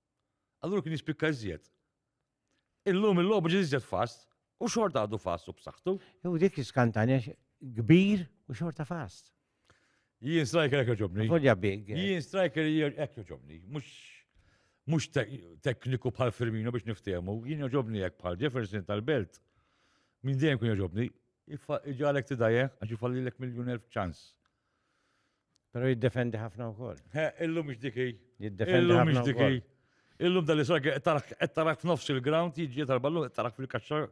Allura kien jispikka iżjed. Illum il-logħbu ġi iżjed fast u xort għadu fast u b'saħħtu. Jew dik iskantanja kbir u xorta fast. Jien striker hekk joġobni. Folja big. Eh. Jien striker hekk joġobni. Mhux mhux tekniku bħal Firmino biex niftehmu, jien joġobni hekk bħal Jefferson tal-Belt. Min dejjem kun joġobni, iġalek tidajeh għax ifallilek miljun elf ċans. Pero jiddefendi ħafna u koll. Illum mux diki. Jiddefendi ħafna. Mux diki. Illum dal isra qed tarak f'nofs il-ground, jiġi tal-ballu qed tarak fil-kaxxa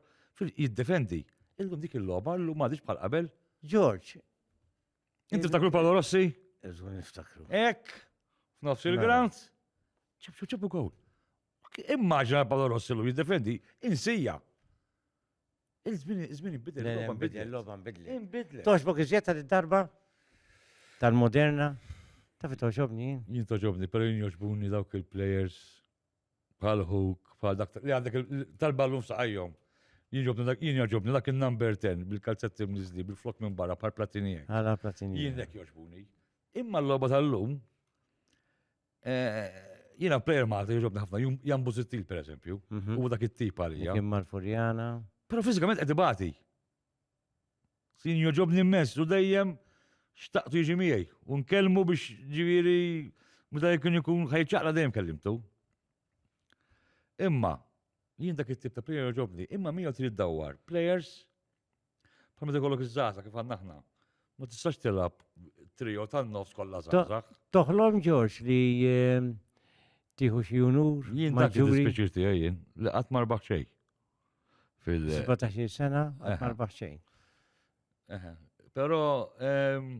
jiddefendi. Illum dik il-logħba llum m'għadix bħal qabel. Ġorġ. Inti ftakru Paolo Rossi? Eżu niftakru. Ek, f'nofs mela. il-ground. ċabċu ċabċu gowl. Immaġina Paolo Rossi lu jiddefendi insija. Il-żmien żmien inbidel, Le, il-logħba nbidel, nbidlet. logħba nbidlet. Inbidlet. Toġbok iżjed ta' darba tal-moderna. Ta' fi toġobni jien. Jien toġobni, pero jien joġbuni dawk il-players bħal Hook, bħal dak li għandek il- tal-ballun f'saqajhom. Jien joġobni dak, jien joġobni dak il-number 10 bil-kalzetti mniżli, bil-flok minn barra bħal platini hekk. Għala platini. Jien nek joġbuni. Imma l-logħba tal-lum Eh, Jina player ma' għati ġobni ħafna, Jan Buzittil per eżempju, mhm. u dak it-tip għalija. Kim Marfurjana. Pero fizikament għedi bati. Sin joġobni mess, u dejjem xtaqtu jiġi miegħi, u nkellmu biex ġiviri, meta jkun jkun ħajċaqla dejjem kellimtu. Imma, jien dak it-tip ta' player joġobni, imma miegħu trid dawwar players Bħal meta jkollok iż-żgħażagħ kif għandna aħna. Ma tistax tilab trio tan-nofs kollha żgħażagħ. Toħlom Ġorġ li ehm, tieħu xi unur. Jien dak il-speċir tiegħi jien li qatt marbaħ xejn. Fil 17 sena qatt marbaħ xejn. Però ehm,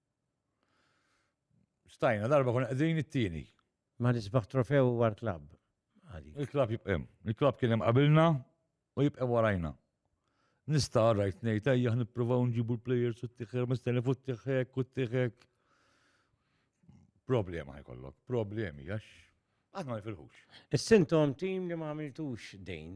Stajna darba kun qegħdin it-tieni. Ma nisbaħ trofew war klabb. Il-klabb jibqem. Il-klabb kien hemm qabilna u jibqem warajna. Nista' rajt ngħid ejja nippruvaw nġibu l-plejers u t-tiħer mistenni fuq t-tiħek u t-tiħek. Problema ħajkollok, problemi għax aħna ma nifilħux. Is-sintom tim li ma għamiltux dejn.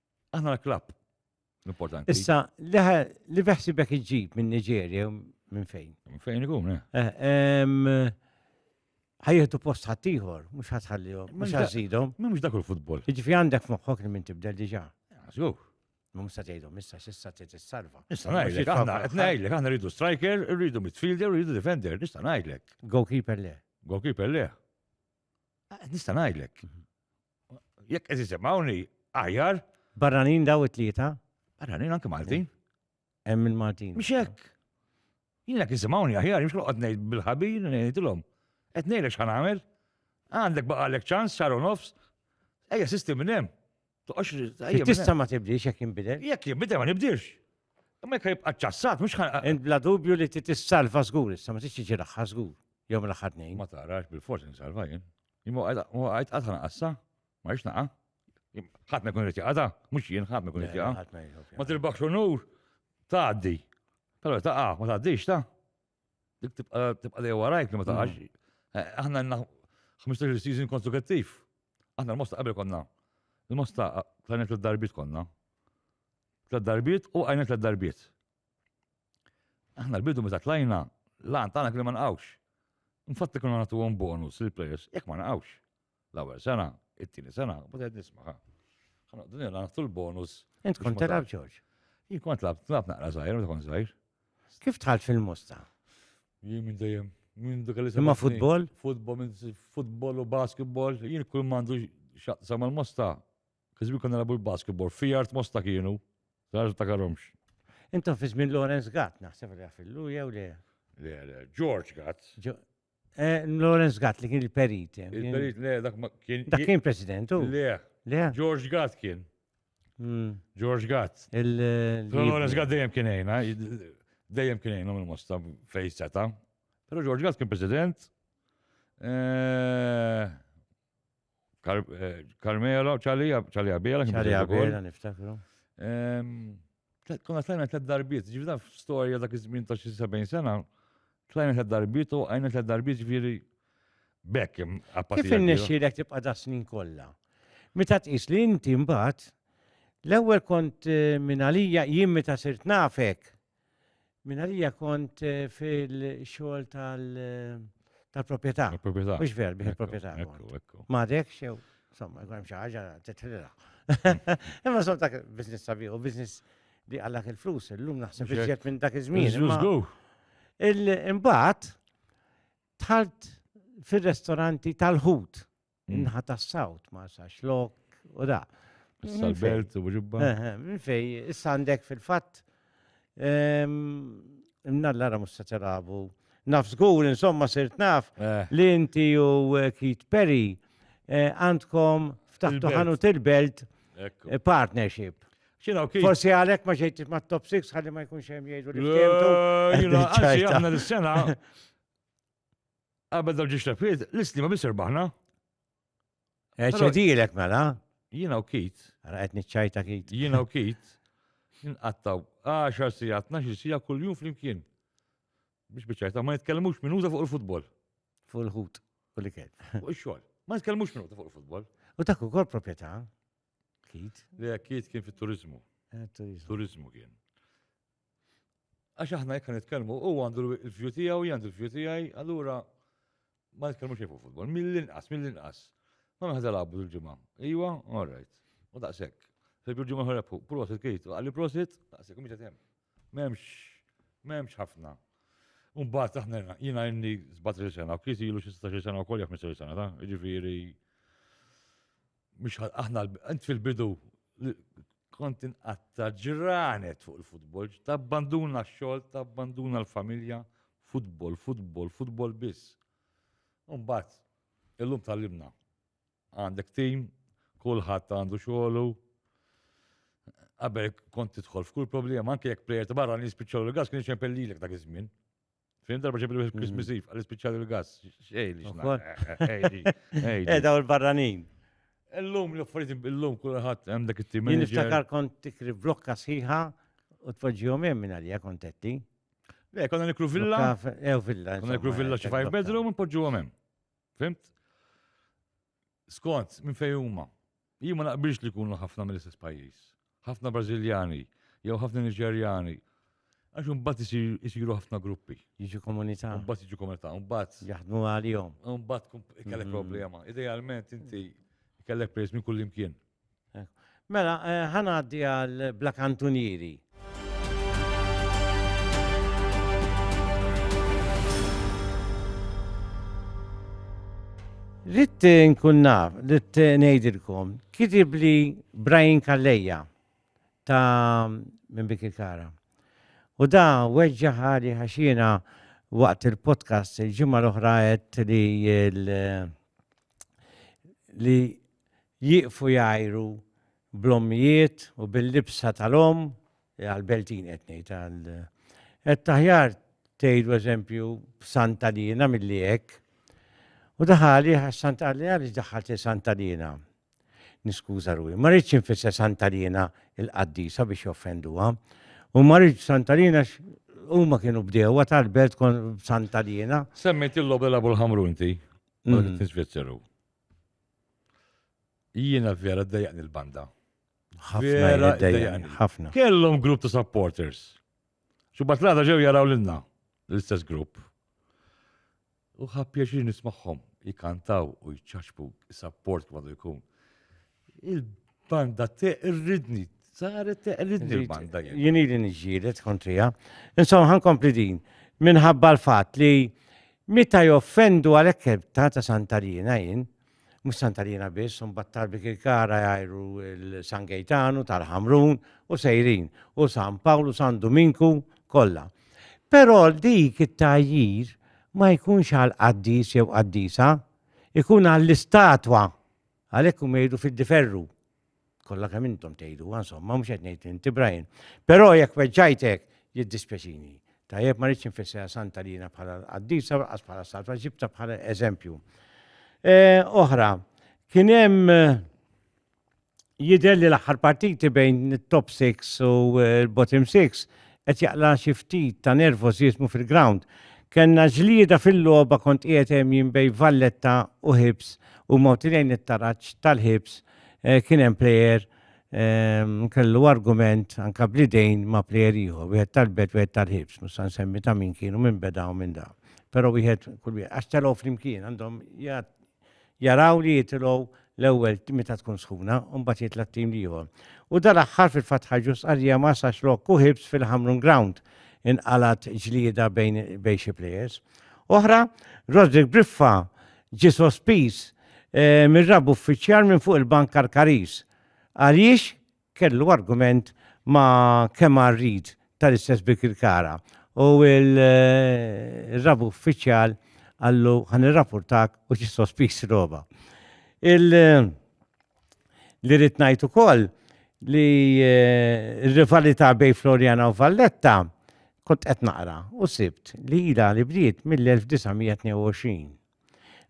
Aħna l-klapp. Importanti. Issa, li beħsibek iġġib minn Nigeria minn fejn? Minn fejn ikun, eh? eh ħajjetu post ħattijħor, mux ħatħallihom, mux ħazzidhom. Mux dak il-futbol. Iġifi għandek moħħok li minn tibdel diġa. Għazgu. Mum sa tgħidhom issa x'issa trid salva Issa ngħidlek aħna qed ngħidlek aħna rridu striker, rridu midfielder, rridu defender, nista' ngħidlek. Goalkeeper le. Goalkeeper le. Ah, nista' ngħidlek. Mhm. Jekk qed isimgħuni aħjar. Barranin daw it-tlieta? Barranin anke Maltin. Hemm il-Maltin. Mhux hekk. Jien jekk isimgħuni aħjar, mhux noqgħod ngħid bil-ħabir ngħidilhom. Qed ngħidlek x'ħan nagħmel. Għandek baqalek ċans sar nofs. Ejja sistem minn hemm. Toqgħodx tista' ma tibdiex jekk jinbidel. Jekk jinbidel ma nibdilx. Imma jekk jibqa' ċassat mhux ħan. Bla dubju li tissalva żgur, issa ma tixtiġi laħħa żgur. Jew l-aħħar tnejn. Ma tarax bil-forsi nsalva jien. Imma għajt qatt ħanqas, sa? Ma rix naqa. Ħadd ma jkun irid jaqada, mhux jien ħadd ma jkun irid jaqa. Ma tirbaħx unur, tgħaddi. Però taqa, ma tgħaddix ta. Dik tibqa' dejja warajk li ma taqax. Mm. Eh, aħna għandna 15 season konstrukattiv. Aħna l-mosta qabel konna. Il-mosta tlanet l-darbit konna. Tlet darbiet u għajnet l-darbiet. Aħna l-bidu meta tlajna, l-għan tagħna kien ma nqgħux. Infatti konna nagħtuhom bonus lil players jekk ma naqgħux. L-ewwel sena, it-tieni sena, u qed nisma' Għanqdu nirna naħtu l-bonus. Int kont telab George? Jien kont lab, tlab naqra zaħir, meta kont zaħir. Kif tħalt fil-musta? Jien minn dejjem, minn dik li Imma futbol? Futbol, futbol u basketball, jien kull mandu xaqsam mal-musta, Kizbi konna labu l-basketball, fi art mosta kienu, għarġu ta' karomx. Intom fi żmien Lawrence Gatt, naħseb li għafillu jew le? Le, le, George Gatt. Eh, Lawrence Gatt li kien il-perit. Eh, il-perit, le, dak kien. Dak kien presidentu? Le. Le. George Gatt kien. Hmm. George Gatt. Il-Lawrence Gatt dejjem kien ejna, eh, dejjem kien ejna minn mosta fejn seta. Pero George Gatt kien president. Carmela u ċalija, ċalija bjela. Ċalija bjela, niftakru. Kuna tlajna ta' darbiet, ġivda f-storja dak iż-żmien ta' xi 70 sena, tlajna ta' darbiet u għajna ta' darbiet ġviri bekk. Kif innexxilek tibqa' da' snin kollha? Meta tqis li inti mbagħad l-ewwel kont eh, minn għalija jien meta sirt nafek, Minn għalija kont eh, fil-xogħol tal-proprjetà. Eh, tal-proprjetà. Mhux ver bih il-proprjetà. Ekku, ekku. Ma dek xew, insomma, jkun xi ħaġa titħilha. Imma sort dak business sabiħ u business li għallak il-flus, illum naħseb iżjed minn dak iż-żmien. Il-imbagħad tħalt fir-restoranti tal-ħut. Mm. Inħa ta' sawt ma' sa' xlok u da. Sal-belt u ġibba. Eh, eh, minn fej, issa għandek fil-fat. Ehm, Nallara musta telabu. Naf zgur, insomma, sirt naf eh. li inti u Kit Perry għandkom ftaħtu ħanu til-belt partnership. Forsi għalek ma ġejt ma top 6 għalli ma jkunx hemm jgħidu li Għanzi, aħna l-sena Qabel dal ġiex tafiet, l-islima biss irbaħna. Eċedilek mela. Jina u kit. Għara għet nċajta kit. Jina u kit. Nqattaw 10 sija, 12 sija kull jum fl-imkien. Biex bieċajta, ma nitkellmux minuta fuq il-futbol. Fuq il-ħut, kull ikel. Fuq il-xol. Ma nitkellmux minuta fuq il-futbol. U dak ukoll proprjetà. Kit. Le, kit kien fit-turizmu. Eh, turizmu kien. Għax aħna jekk nitkellmu, u għandu l-view tiegħu, għandu l-view tiegħi, allura ma nitkellmu xejn fuq futbol. Mill-inqas, mill-inqas. Ma meħda labu l-ġimgħa. Iwa, all right. U daqshekk. Fejdu l-ġimgħa ħorebħu, prosit kejt, għalli prosit, daqshekk, mhux hemm. M'hemmx, m'hemmx ħafna. Umbagħad aħna jiena inni 17 sena, u kiesi ilu xi 16 sena wkoll jekk 15 sena ta', jiġifieri Mux aħna, int fil-bidu kont inqatta ġranet fuq il-futbol, tabbanduna x-xogħol, tabbanduna l-familja, futbol, futbol, futbol biss. Umbat, illum tal-limna. Għandek tim, kulħadd għandu xogħlu. Qabel kont tidħol f'kull problema, anke jekk plejer ta' barra nispiċċaw l-gas kien ċempellilek dak iż-żmien. Fin darba ġebi l Christmas mm. Eve, għal ispiċċali l-gas, xej li Eda u l-barranin. Illum, l-affarijiet illum kulħadd hemm dak it-tim. Jien niftakar kont tikri blokka sħiħa u tpoġġihom hemm minn għalija kontetti. Le, konna nikru villa. Ew eh, villa. Konna nikru villa xi five bedroom u npoġġuhom hemm. Fimt? Scott, minn fejn huma? Jien ma naqbilx li jkunu ħafna mill-istess pajjiż. Ħafna Brażiljani, jew ħafna Niġerjani, Għax imbagħad isiru ħafna gruppi. Jiġu komunità. Imbagħad jiġu komunità, imbagħad. Jaħdmu għalihom. Imbagħad kellek mm-hmm. problema. Idealment inti kellek prejs minn kull imkien. Mela, eh, ħanaddi għal Bla Kantunieri. Ritt nkun naf, ritt ngħidilkom, kitib li Brian Kalleja ta' minn Bikir Kara. U da weġġa ħali ħaxina waqt il-podcast il-ġimgħa l-oħra qed li li Jieqfu jgħajru bl-ommijiet u bil-libsa tal-omm, għall-Beltin qed ngħid, għal, qed aħjar tgħidu eżempju Santa Liena milli hekk. U daħal għalih għax Santa qalli għaliex daħħaltli Santa Liena. Niskuża ruħi, ma rridx infisser Santa Liena il-qaddisa biex joffenduha. U ma rridx Santa Liena huma kienu bdewwa tal-belt kon Santa Liena. Semmejt il-logħba labu l-ħamru inti, ma rridx Svizzeru. Jiena vera d-dajaqni l-banda. Vera d-dajaqni. Ħafna. Kellhom grupp ta' supporters. Xubat l-għada ġew jaraw l-inna, l-istess grupp. U ħab pjaċir nismaħħom, jikantaw u jċaċbu, support kmadu jkun. Il-banda teqridni, saret teqridni l-banda. Jien li nġiret kontrija. Insomma, ħankompli din. Minħabba l-fat li meta joffendu għalek ta' ta' Santarina jien, mux Santarina biss, un battar bik il-kara jajru il-San Gejtanu, tal-Ħamrun, u sejrin, u San Pawlu, San Dominku, kolla. Pero dik it-tajjir ma jkunx għal qaddis jew qaddisa, ikun għall-istatwa Għalhekk huma jgħidu fid-diferru. Kollha kemm intom tgħidu, insomma, mhux qed ngħid inti Brian. Però jekk weġġajtek, jiddispjaċini. Tajjeb ma rridx infissera santa li jiena bħala qaddisa qas bħala salva ġibta bħala eżempju. E, oħra, kien hemm eh, jidher li l-aħħar partiti bejn it-top 6 u eh, l-bottom 6 qed jaqla' xi ftit ta' nervożiżmu fil-grawnd. Kellna ġlieda fil-logħba kont qiegħed hemm jien bejn Valletta u Hibs u moti lejn it-taraġ tal-Hibs kien hemm plejer kellu argument anke bl-idejn ma' plejer ieħor, wieħed tal-Belt wieħed tal-Hibs, mhux se nsemmi ta' min kienu minn beda u minn da. Però wieħed kull wieħed għax telgħu flimkien għandhom jaraw li jitilgħu l-ewwel meta tkun sħuna u mbagħad jitla' t-tim li ieħor. U dal-aħħar fil-fatt ħarġu stqarrija ma sax lok u ħibs fil-Hamrun Ground inqalgħet ġlieda bejn bejn xi plejers. Oħra, Roderick Briffa ġie sospiż eh, mir-rab uffiċjal minn fuq il-bank Karkaris. Għaliex kellu argument ma' Kemar Reid tal-istess Birkirkara u l-Rab Uffiċjal qallu ħa nirrapportak u ġie sospiż il-logħba. Li rrid ngħid ukoll li r-rivalità bejn Floriana u Valletta kont qed naqra u sibt li ilha li bdiet mill-1922.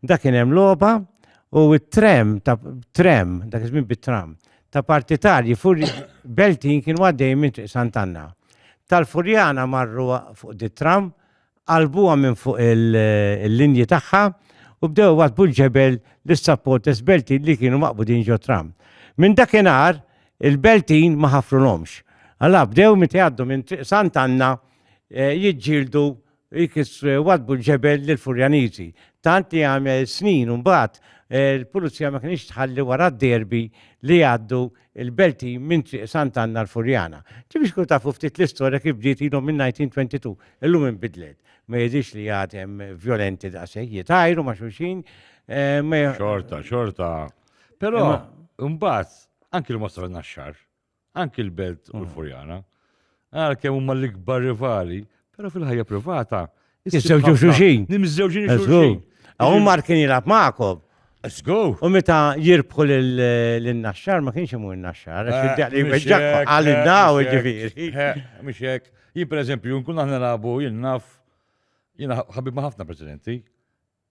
Dak kien hemm logħba u t-tram ta' tram, dak iż-żmien bit-tram, ta' partitarji fur beltin kienu għaddejjin minn Triq Sant'Anna. Tal-Furjana marru fuq dit-tram, qalbuha minn fuq il-linji tagħha u bdew iwaddbu l-ġebel lis-supporters beltin li kienu maqbudin ġot-tram. Minn dakinhar il-beltin ma ħafrulhomx. Alla bdew meta jgħaddu minn Triq Sant'Anna jiġġieldu Jkissru wadbu l-ġebel lill-Furjaniżi, tant li għal snin mbagħad il-Pulizija ma kinitx tħalli wara d-derby li jgħaddu l-belti minn Triq Sant'Anna l-Furjana. Ġifieri xkunu tafu ftit l-istorja kif bdiet ilhom minn 1922, illum inbidlet. Ma jidhirx li għad hemm vjolenti daqshekk, jitgħajru ma' xulxin, ma Xorta, xorta. Però mbagħad anki l-Mostra Naxxar anki l-Belt u l-Furjana, għal kemm huma l-ikbar rivali, però fil-ħajja privata. Iżżewġu xuxin. Nimżewġu xuxin. Għum mar kien jilab maqob. Let's go. U meta jirbħu l-naxxar, ma kienx imur l-naxxar, għal id-daw ġifiri. Mxek, jien per eżempju, nkun aħna nabu, jien naf, jien ħabib ma ħafna presidenti,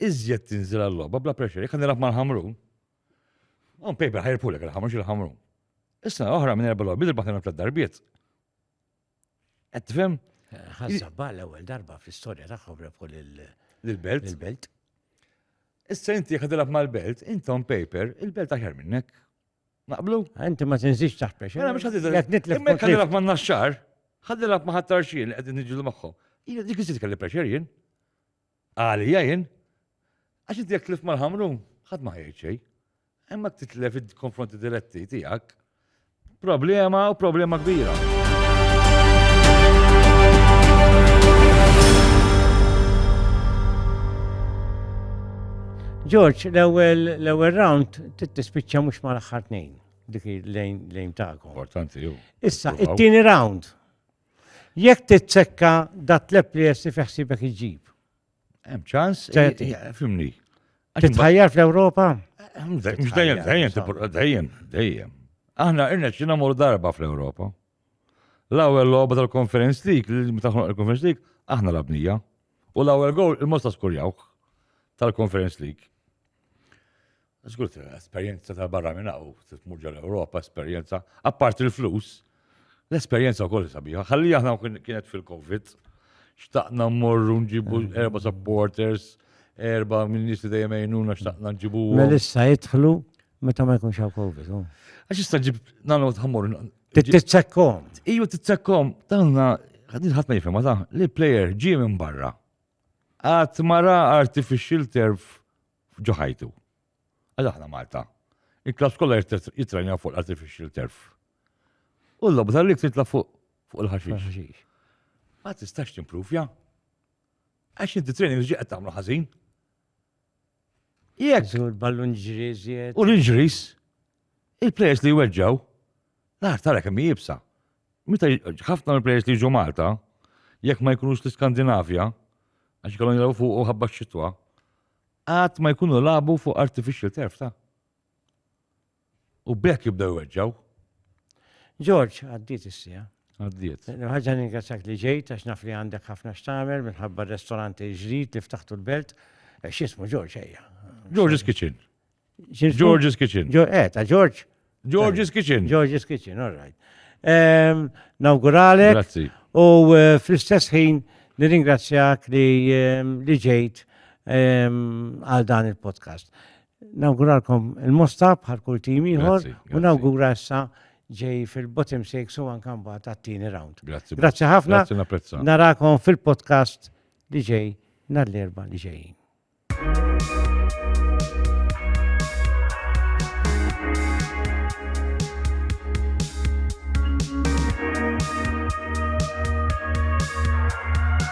iżjed tinżel għal-logħba bla pressure, jekk nilgħab mal-ħamrun, on paper ħajrpulek il-ħamrun xi ħamrun. Issa oħra minn erba' logħbiet il-baħna tliet darbiet. Qed tifhem? Ħassabba l-ewwel darba fl-istorja tagħhom rebħu lill-belt. Il-belt. Issa inti jekk tilgħab mal-belt, intom paper, il-belt aħjar minnek. Naqblu? Inti ma tinżix taħt pressure. Mela mhux ħadd idher. Qed nitlef. Imma kellilek ma' naxxar, ħadilek ma' ħadd tarxien li qegħdin niġġieldu magħhom. Jien dik iżid kelli pressure jien. Għalija jien. Għax inti jekk tlif mal-ħamrun, ħadd ma ħajjed xejn. Imma titlef id-konfronti diretti tiegħek. Problema u problema kbira. George, l-ewwel round Trid tispiċċa mhux mal-aħħar tnejn dik lejn tagħkom. Importanti jew. Issa, it-tieni round. Jekk titsekka dat tleb li jessi fiħsibek iġib. Hemm ċans, fimni. Titħajjar fl-Ewropa? Mhux dejjem, dejjem, dejjem, dejjem. Aħna irna ċina mor darba fl-Ewropa. L-ewwel logħba tal-konferenz dik, li meta il-konferenz dik, aħna labnija. U l-ewwel gowl il-mod ta' skurjawh tal-Conference League. Żgur esperjenza ta' barra minn hawn, tmur ġol Ewropa, esperjenza, apparti l-flus, l-esperjenza wkoll sabiħa. Ħalli aħna kienet fil-COVID, xtaqna mmorru nġibu mm. erba' supporters, erba' minn nies li dejjem għajnuna xtaqna nġibu. Melissa jidħlu Meta ma jkunx hawn Covid. Oh. Għax jista' ġib nagħmlu tħammur. Titsekkom. Iju titsekkom. Tanna ħadin ħadd ma jifhem ta' li player ġie minn barra. Għat mara artificial turf ġo ħajtu. Għal aħna Malta. Il-klass kollha jitranja fuq l-artificial turf. U l-lobba tal-lik titla' fuq fuq il-ħaxix. Ma tistax timpruvja. Għax inti training ġiqet tagħmlu ħażin. Jekk. Żur ballun ġri żjed. U l-injuries, il-players li jweġġaw, l-art tara kemm jibsa. Meta ħafna mill-players li jiġu Malta, jekk ma jkunux l-Iskandinavja, għax kellhom jilgħu fuq ħabba x-xitwa, qatt ma jkunu labu fuq artificial turf ta'. U b'hekk jibdew jweġġaw. Ġorġ, għaddiet is-sija. Għaddiet. Ħaġa ningrazzjak li ġejt għax naf li għandek ħafna x'tagħmel minħabba r-restoranti ġdid li ftaħtu l-belt. Eh, x'ismu Ġorġ ejja. George's Kitchen. George's Kitchen. Eh, ta' George. George's Kitchen. George's Kitchen, all right. Ehm, nawguralek. Grazzi. U eh, fl-istess ħin nirringrazzjak li ehm, ġejt ehm, għal dan il-podcast. Nawguralkom il-mosta bħal kull tim ieħor u nawgura issa ġej fil-bottom six u anka mbagħad għat-tieni round. Grazzi. Grazzi ħafna. Narakom fil-podcast li ġej nhar l-erba' li ġejjin.